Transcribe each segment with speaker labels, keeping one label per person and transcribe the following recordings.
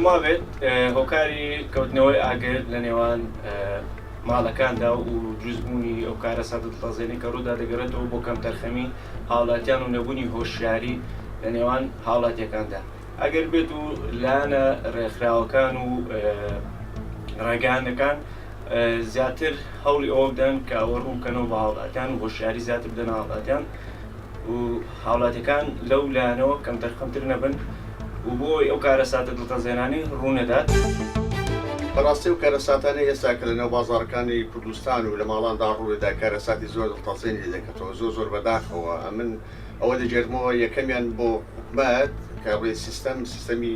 Speaker 1: پێموابێت هۆکاری کەوتنەوەی ئاگر لە نێوان ماڵەکاندا و جوزبوونی ئەو کارە سەدت تازێنی کە ڕوودا دەگەرێتەوە بۆ کەم تەرخەمی هاوڵاتیان و نەبوونی هۆشیاری لە نێوان هاوڵاتیەکاندا ئەگەر بێت و لایەنە ڕێکخراوەکان و ڕێگانەکان زیاتر هەوڵی ئەوە بدەن کە ئەوە ڕوون بکەنەوە بە هاوڵاتیان و هۆشیاری زیاتر بدەنە هاوڵاتیان و هاوڵاتیەکان لەو لایەنەوە کەم دەرخەمتر نەبن و بۆ ئەو کارە ساتە دڵتەزێنانی ڕوونەدات.
Speaker 2: بەڕاستی ئەو کارە ساتانەی ئێستا کە لە نێو بازاڕەکانی کوردستان و لە ماڵاندا ڕووێدا کارە ساتی زۆر دڵتەزێن لێ دەکەتەوە زۆر زۆر بەداخەوە ئەمن ئەوە دەگێرمەوە یەکەمیان بۆ حکومەت کە ڕێ سیستەم سیستەمی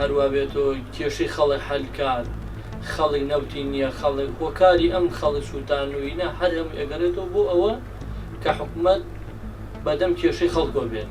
Speaker 3: هەروا بێت و کێشەی خەڵک حەل کات، خەڵک نەوتی نییە، خەڵک هۆکاری ئەم خەڵک سووتانووینە هەر هەمووی ئەگەڕێتەوە بۆ ئەوە کە حکومەت بە دەم کێشەی خەڵکەوە بێت.